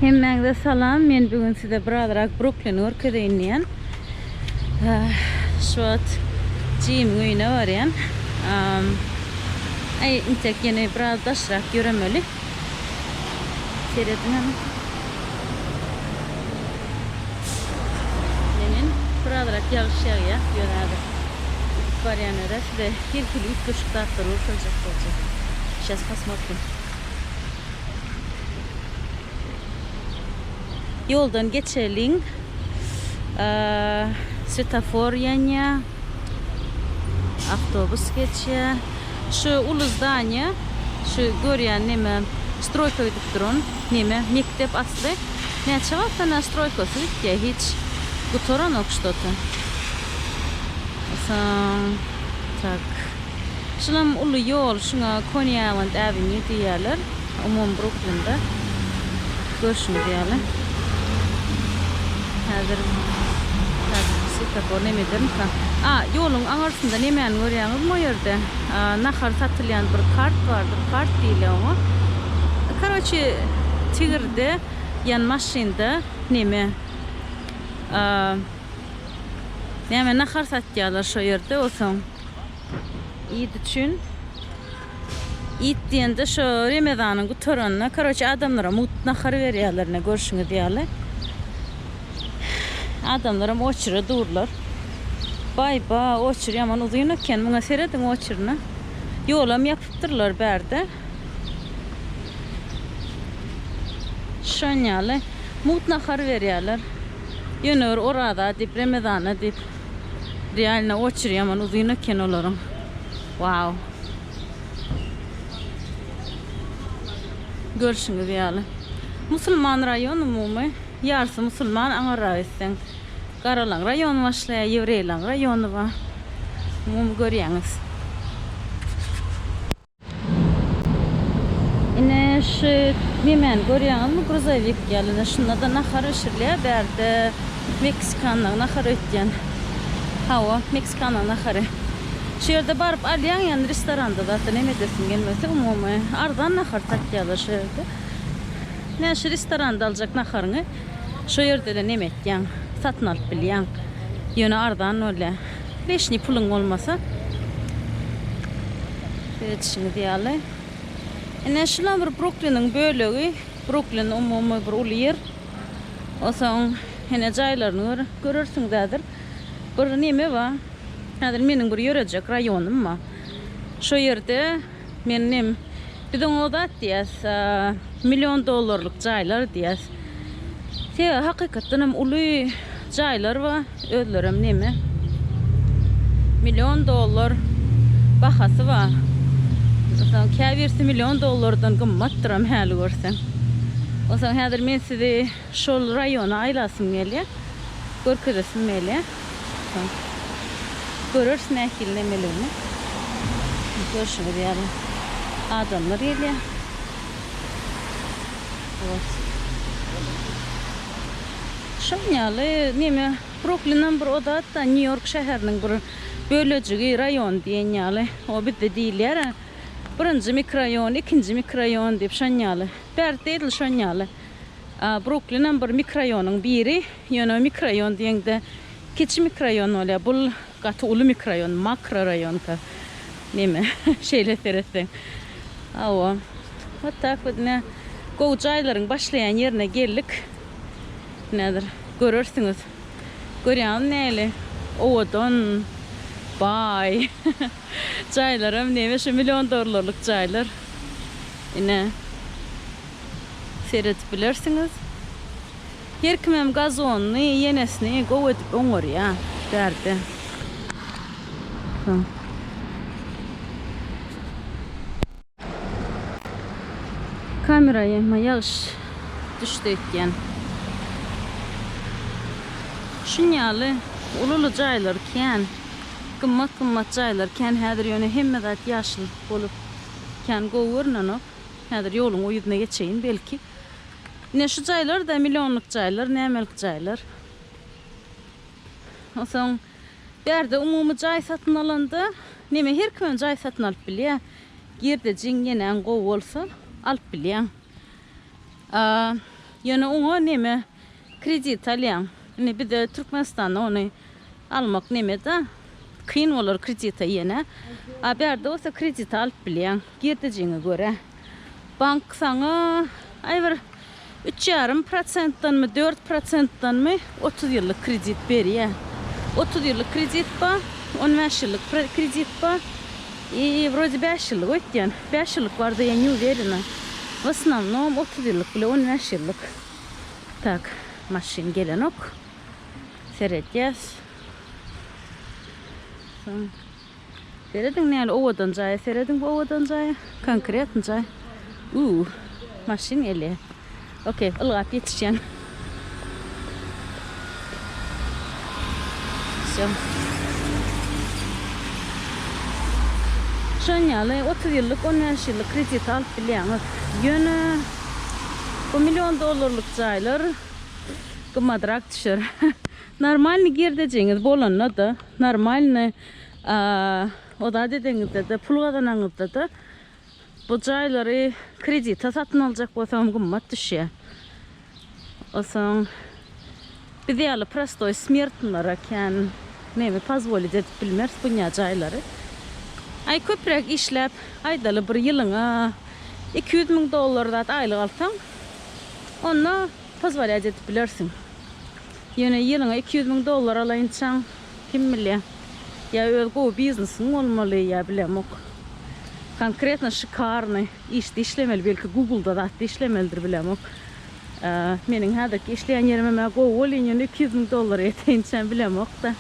Hemmäňize salam. Men bu gün size birazrak Bruklini görkezeýin diýen. Şu wagt Jim öýüne barýan. Aý, intek ýene biraz daşrak ýöremeli. Serediň hany. Ýene birazrak ýagyş ýagýar. Ýöne häzir barýan ýere size her hili üýtgeşik zatlary görkezjek boljak. Şes pasmorkim. Ýoldan geçeliň. Svetofor ýanýa. Awtobus geçýä. Şu uly zdaniýa, şu görýän neme, stroýka gidip duran neme, mekdep asly. Näçe wagtdan bäri stroýkasy gitýä, hiç gutaranok ştoto. Soň, tak. Şulam uly ýol, şuňa Koniawand Avenue diýýärler, umumy Bruklinde. Görşüňiz ýaly. Häzir, häzir swetofor nemedermika? A, ýoluň aňyrsynda nemäni görýäňizmi o ýerde? A, nahar satylýan bir kart bardyr, kart diýilýär oňa. Karoçi, tigirde, ýan maşynda neme? A, näme nahar satýarlar şo ýerde, osaň. Id üçin Id diýende şo Remezanyň gutaranyna karoçe adamlara mugt nahar berýärler ine görşüňiz ýaly. Adamlaram oçere durlar. Baý ba oçer ýaman uzyn eken muňa serediň oçerine. Ýolam ýapypdyrlar bärde. Şon ýaly mugt nahar berýärler. Ýöne bir oraza diýip Remezana diýip. Realno oçeri ýaman uzyn eken olaryň. Wow. Görşüňiz ýaly. Musulman raýon umumy. Ýarsy musulman aňyrrak etseň. Garalaň raýony başlaýar, ýewreýlaň raýony bar. Umumy görýäňiz. Ine şu nemeni görýäňizmi gruzowik ýaly ine şundada nahar bişirilýär bärde meksikanlyň nahar öýtýän hawa meksikanlyň nahary şu ýerde baryp alýaň ýany restoranda zat neme edesiň gelmese umumy arzan nahar satýarlar şu ýerde ine şu restoranda aljak naharyňy şu ýerde ele neme etýäň satyn alyp bilýäň ýöne arzan bolýar. Leşni puluň bolmasa seredişiňiz ýaly. Ine şular bir Brukliniň bölegi. Bruklin umumy bir uly ýer. Osoň ine jaýlaryny gör, görersiňiz häzir. Bir neme bar. Häzir meniň bir ýörejek raýonym bar. Şo ýerde Men nem. Biz oňa o zat diýýäs, million dollarlyk jaýlar diýýäs. Sebäbi hakykatdan hem uly jaýlar we özlerem neme. Million dollar bahasy bar. Onsoň käbirisi million dollardan gymmatdyram häli görseň. Onsoň häzir men sizi şol raýona aýlasym gelýär. Görkezesim gelýär. Göreris nähili nemeligini. Görşüňiz ýaly adamlar gelýär. Wot. Şoň ýaly neme Bruklinam bir odatda Nýu-Ýork şäheriniň bir bölejigi, raýony diýen ýaly. O bizde diýilýär-ä, birinji mikroýon, ikinji mikroýon diýip şon ýaly. Bärde edil şon ýaly. Bruklinam bir mikroýonyň biri. Ýöne mikroraýon diýeňde kiçi mikroraýon bolýar. Bul gaty uly mikroraýon, makroraýonka neme şeýle seretseň. Hawa. Wot tak wot ine gowy jaýlaryň başlaýan ýerine geldik. Ine hazir görersiňiz. Görýäňizmi nähili owadan, baý jaýlaram neme şu million dollarlyk jaýlar. Ine seredip bilersiňiz. Her kimem gazonyny, ýenesini gowy edip oňarýa, bärde. Soň. Kamera ýa ýagyş düşdi öýtýän. Şun ýaly uly uly jaýlar kän. Gymmat gymmat jaýlar kän häzir ýöne hemme zat ýaşyl bolup kän gowy görnenok. Häzir ýoluň o ýüzüne geçeýin belki. Ine şu jaýlar-da millionlyk jaýlar, nämelik jaýlar. Onsoň bärde umumy jaý satyn alanda, neme her kimem jaý satyn alyp bilýä. Girdejiň, ýenäň gowy bolsa, alyp bilýäň. Ýöne oňa neme kredit alýaň. Indi bizde Türkmenistanda ony Almak nemeda kyn bolar kredita ýene. A bärde bolsa kredita alyp bilýäň girdejiňe görä. Bank saňa aý bir üç ýarym prosentdanmy dört prosentdanmy otuz ýyllyk kredit berýär. Otuz ýyllyk kredit bar, on bäş ýyllyk kredit bar i wrode bäş ýyllyk öýtýän. Bäş ýyllyk barda ýa ne uwerena. W osnownom otuz ýyllyk bile on bäş ýyllyk. Tak maşyn gelenok. seredýäs. Serediň näl owadan jaýa serediň bu owadan jaýa konkretny jaý. Uuu maşyn gelýär. Okey ylgap ýetişýän. Şo. Şonýaly 30 ýyllyk, 15 ýyllyk kredit alyp bilýäňiz. Ýöne bu million dollarlyk jaýlar Gymmadrak düşer. Normalny girdejiňiz bolanda-da, normalny o zat edeňizde-de, pul gazanaňyzda-da bu jaýlary kredite satyn aljak bolsaňam gymmat düşýär. Osaň biz ýaly prostoý smertnlara kän näme pozwolit edip bilmeris bunýa jaýlary. Aý köpräk işläp, aýdaly bir ýylyňa iki ýüz müň dollar zat aýlyk alsaň, onda Pozwolýat edip bilersiň. Ýöne ýylyňa iki ýüz müň dollar alaýynçaň, kim bilýä. Ýa öz gowy biznesiň bolmaly, ýa bilemok. Konkretno şikarny işde işlemeli, belki Google-da zatda işlemelidir, bilemok. Meniň häzirki işleýän ýerimem-ä gowy bolýyn, ýöne iki ýüz müň dollar ýeteýinçäm, bilemok-da.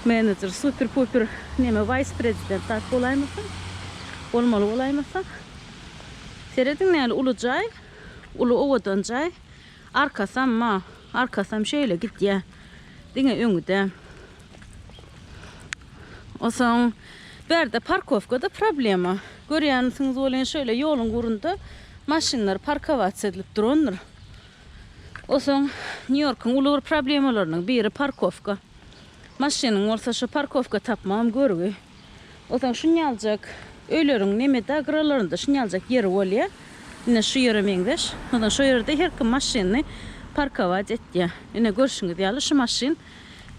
Menejer super-puper neme waýs-prezident zat bolaýmasa, bolmaly bolaýmasa. Serediň nähili uly jaý. Uly owadan jaý. Arkasam ma, arkasam şeýle gidýär. Diňe öňi-de. Onsoň bärde parkowka-da problema. Görýänsiňiz welin, şeýle ýoluň gurunda maşynlar parkowasiýa edilip durandyr. Onsoň Nýu-Ýorkuň uly bir problemalarynyň biri parkowka. Maşynyň bolsa, şo parkowka tapmagam görgi. Onsoň şunýaljak öýleriň nemede gyralarynda şunýaljak ýeri bolýa. Ine şu ýere meňzeş. Onsoň şo ýerde her kim maşynyny parkować etýä. Ine görşüňiz ýaly şu maşyn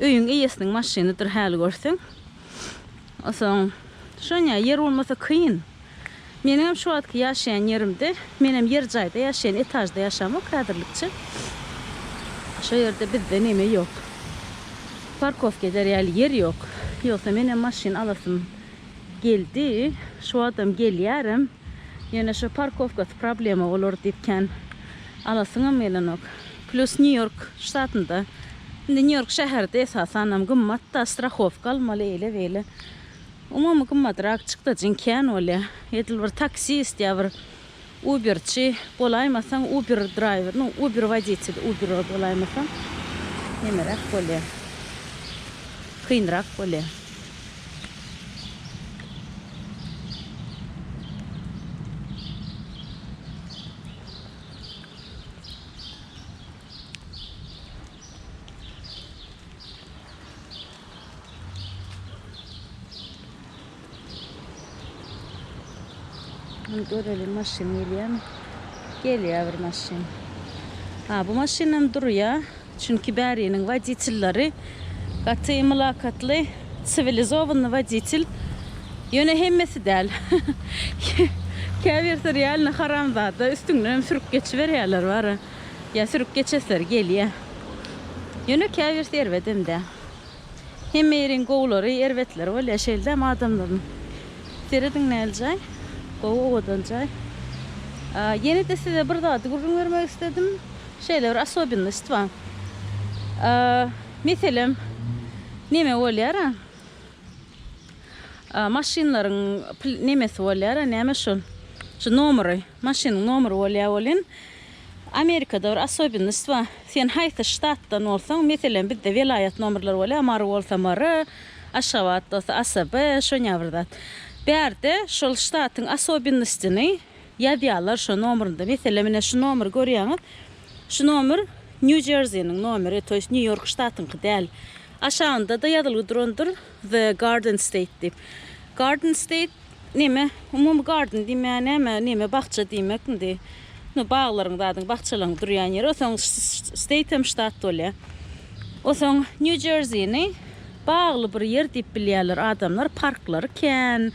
öýüň eýesiniň maşynydyr häli görseň. Onsoň şonýa ýer bolmasa kyn. Meniňem şu wagtky ýaşaýan ýerimde, menem ýer jaýda ýaşaýan, etažda ýaşamok häzirlikçe. Şo ýerde bizde neme ýok. Parkowka eder ýaly ýer ýok. Ýogsa menem maşyn alasym geldi. Şu wagtam gelýärem. Ýöne şo parkowkasy problema bolar diýip kän alasyňam gelenok. Plus Nýu-Ýork ştatynda, indi Nýu-Ýork şäherde esasanam gymmat-da, strahowka almaly, eýle-beýle. Umumy gymmadrak çykdajyň kän bolýar. Edil bir taksist ýa bir uberçi bolaýmasaň, uber draýwer, nu, uber woditeli, uber bolaýmasaň, nemeräk bolýar. Kynrak bolýar. Bunu görelim maşyn gelýärmi? Gelýär bir maşyn. Ha, bu maşynam durýar. Çünki bäriniň woditelleri gaty mylakatly, siwilizowanyý woditel. Ýöne hemmesi däl. Käbirsi realny haramzada, üstüňden hem sürüp geçiberýärler bara. Ýa sürüp geçesleri gelýä. Ýöne käbirsi erbedem-dä. Hemme ýeriň gowulary, erbetleri bolýa şeýldämi adamlaryň. Serediň näl jaý. Gowy owadan jaý. Ýene-de size bir zady gürrüň bermek isledim. Şeýle bir osobennost bar. Meselem, neme bolýar-a? Maşynlaryň nemesi bolýar-a, näme şol? Şu nomeri. Maşynyň nomeri bolýa welin Amerikada bir osobennost bar. Sen haýsy ştatdan bolsaň, meselem bizde welaýat nomerleri bolýa, Mary bolsa Mary, Aşgabat bolsa ASB, şonýa bir zat. Bärde şol ştatyň osobennostyny ýazýarlar şo nomerinde. Meselem ine şu nomeri görýäňiz. Şu nomer Nýu-Jerziniň nomeri, to ýest Nýu-Ýork ştatyňky däl. Aşagynda-da ýazylgy durandyr. The Garden State diýip. Garden State neme? Umumy garden diýmä näme? Neme bakja diýmek indi. No baglaryň zadyň, bakjalaryň durýan ýeri. O soň state hem ştat bolýa. O soň New Jersey-ni bagly bir ýer diýip bilýärler adamlar, parklary kän,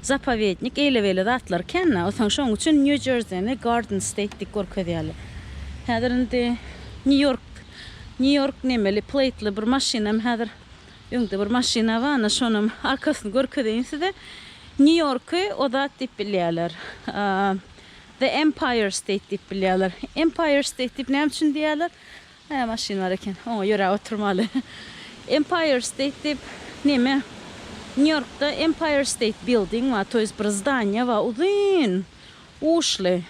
zapowednik eýle-beýle zatlary kän-dä. O soň şoň üçin New Jersey-ni Garden State diýip görkezýärler. Häzir indi New York, New York nemeli, plately bir maşynam häzir Öňde bir maşyna bar, ana şonam arkasyny görkezeýin size. Nýu-Ýorky o zat diýip bilýärler. The Empire State diýip bilýärler. Empire State diýip näme üçin diýýärler? Hä, maşyn bar eken. Oňa ýöräp oturmaly. Empire State diýip näme? Nýu-Ýorkda Empire State Building bar, to ýest bir zdaniýa bar, uzyn, uçly.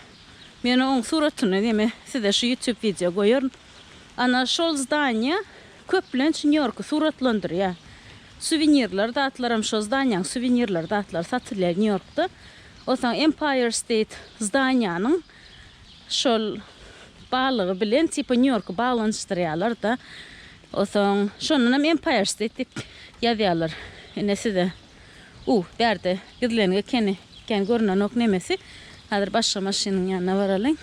Men oň suratyny näme size şu YouTube wideo goýaryn. Ana şol zdaniýa Köplenç Nýu-Ýorky suratlandyrýar. Suwenirler zatlaram şo zdaniýaň suwenirler zatlary satylýar Nýu-Ýorkda. Onsoň Empire State zdaniýanyň şol baglygy bilen tipa Nýu-Ýorky baglanyşdyrýarlar-da. Onsoň şondan hem Empire State diýip ýazýarlar. Ine size u bärde gizleniň ekeni kän görünenok nemesi. Häzir başga maşynyň ýanyna baralyň.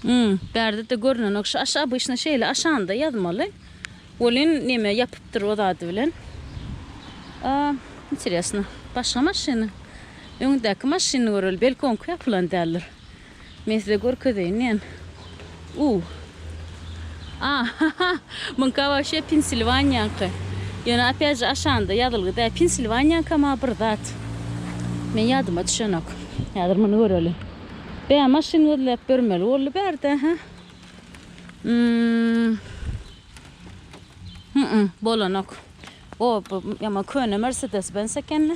Hum, bärde-de görnenok. Şu aşa obyçny şeýle aşanda ýazmaly. Welin neme ýapypdyr o zady bilen. A, interesno. Başga maşyny. Öňündäki maşyny göreli. Belki oňky ýapylan däldir. Men size görkezeýin diýen. U. A, ha-ha, muňka waşýa Pensilwaniýaňky. Ýöne opýat je aşanda ýazylgy däl. Pensilwaniýaňka maňa bir zat. Meň ýadyma düşenok. Häzir muny göreli. Bä, maşyn gözläp ýörmeli boldy bärde, hä? Ým. Hü-üm, bolanok. O, bu ýaman köne Mersedes-Benz eken-le.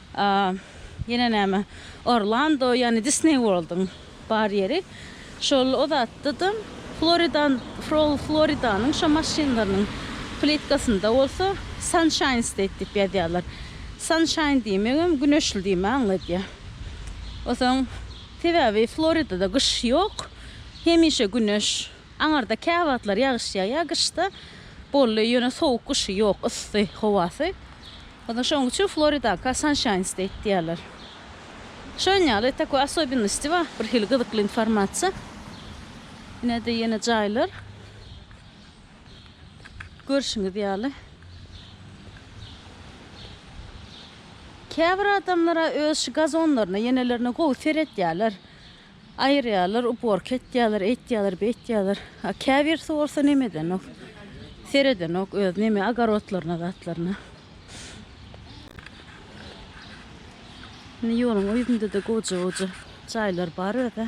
A ýene näme Orlando ýany Disney World-yň bar ýeri. Şol o zatda-da Floridan Frol Floridanyň şo maşynlarynyň plitkasynda bolsa Sunshine State diýip ýazýarlar. Sunshine diýmegem güneşli diýme aňladýar. Osaň sebäbi Floridada gyş ýok. Hemişe güneş. Aňarda käwagtlar ýagyş ýagýar gyşda. Bolly ýöne sowuk gyşy ýok, yssy howasy. Ony şonuň üçin Floridaka Sunshines deýip diýýärler. Şon ýaly takoý asobinnosti bar, bir hili gyzykly informasiýa. Ine-de ýene jaýlar. Görşüňiz ýaly. Käbir adamlar-a öz şu gazonlaryna, ýenelerine gowy seretýärler. Aýyrýarlar, uborka etýärler, eýtýärler, beýtýärler. A käbirisi bolsa neme edenok. Seredenok öz neme ogorodlaryna, zatlaryna. Indi ýoluň o ýüzünde-de goja-goja jaýlar bar özä.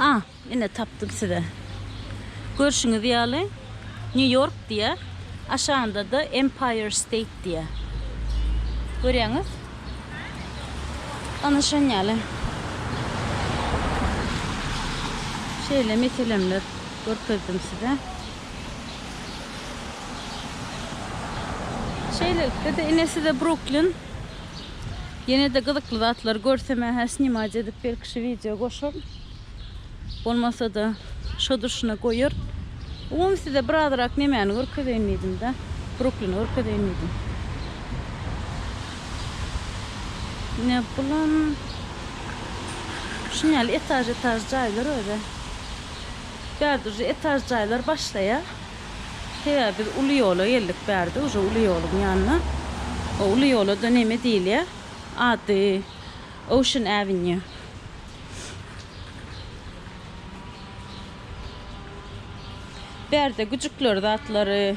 A, ine tapdym size. Görşüňiz ýaly, New York diýýär, aşagynda-da Empire State diýýär. Görýäňiz? Ana şon ýaly. Şeýle meselemler görkezdim size. Şeýlelikde-de ine size Bruklin. Ýene-de gyzykly zatlary görsem ähä snimac edip belki şu wideo goşaryn. Bolmasa-da şo durşuna goýaryn. Umumy size bir azrak nemäni görkezeýin diýdim-de. Bruklini görkezeýin diýdim. Ine bulam şuny ýaly etaž-etaž jaýlar özi. Bärde uje etaž jaýlar başlaýar. Sebäbi biz uly ýola geldik bärde uje uly ýoluň ýanyna. O uly ýola-da neme diýilýär? Ady Ocean Avenue. Bärde güjükler zatlary.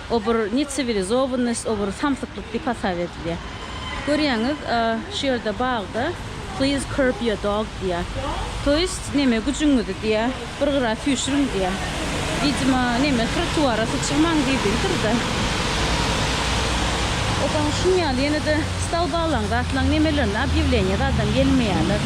O bir necivilizovannost, o bir samsyklyk diýip hasap edilýär. Görýäňiz, şu ýerde bagda Please curb your dog diýýär. To ýest, neme, güjüňizi diýýär, bir gyra süýşüriň diýýär. Widima, neme, trotuara syçyrmaň diýdigidir-de. Obaň şuny ýaly ýene-de stolbalaň, zatlaň nemelerini obýawleniýa zadam gelmeýärler.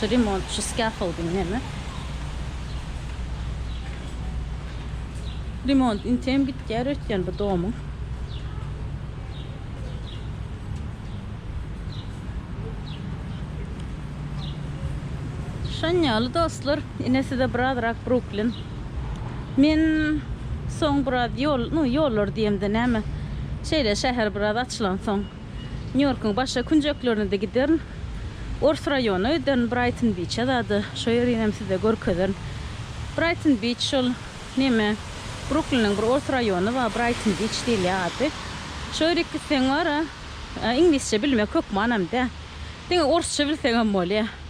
Şu remontçy skaffolding neme? Remont intem gitýär öýtýän bu domyň. Şon ýaly dostlar, ine size birazrak Bruklin. Men soň biraz ýol, nu ýollar diýemde näme, şeýle şäher biraz açylansoň, Nýu-Ýorkuň başga künjeklerine-de giderin. Ors raýonyna giderin, Braýton-Biçe zada, şo ýerinem size görkezerin. Braýton-Biç şol, neme, Brukliniň bir ors raýony bar, Braýton-Biç diýilýär ady. Şo ýere gitseň bar-a, iňlisçe bilmek hökmanam däl. Diňe orsça bilseňem bolýar.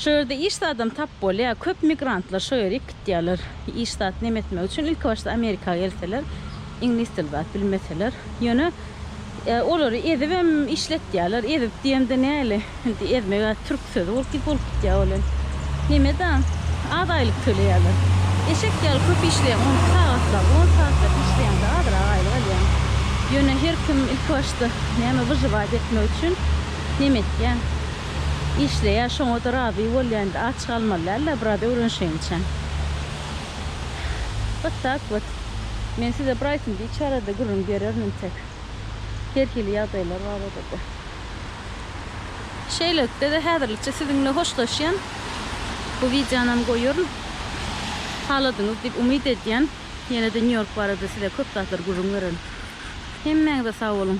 Şo ýerde iş zadam tap bolýar. Köp migrantlar şo ýere gitýärler. Iş zat neme etmek üçin ilkibaşda Amerika gelseler, iňlis dil zat bilmeseler. Ýöne olary ezibem işletýärler. Ezip diýemde näli? Indi ezmek a türk sözi bolup gitýär ol hem. Neme da, az aýlyk töleýärler. Eşek ýaly köp işleýän on iki sagatlap, on sagatlap işleýäňde azrak aýlyk alýaň. Ýöne her kim ilkibaşda näme wyžywat etmek üçin neme etýär. işleýär şoňada razy bolýan aç galmaly dälda biraz öwrenşeýinçäň вот tak вот men size bir aýsym biç arada gürrüň bererin intek her hili ýagdaýlar baradada şeýlelikdede häzirlikçe siziň bilen hoşlaşýan bu wideonam goýaryn haladyňyz diýip umyt edýän ýenede nýu ýork barada size köp zatlar gürrüň bererin hemmäňize sag boluň.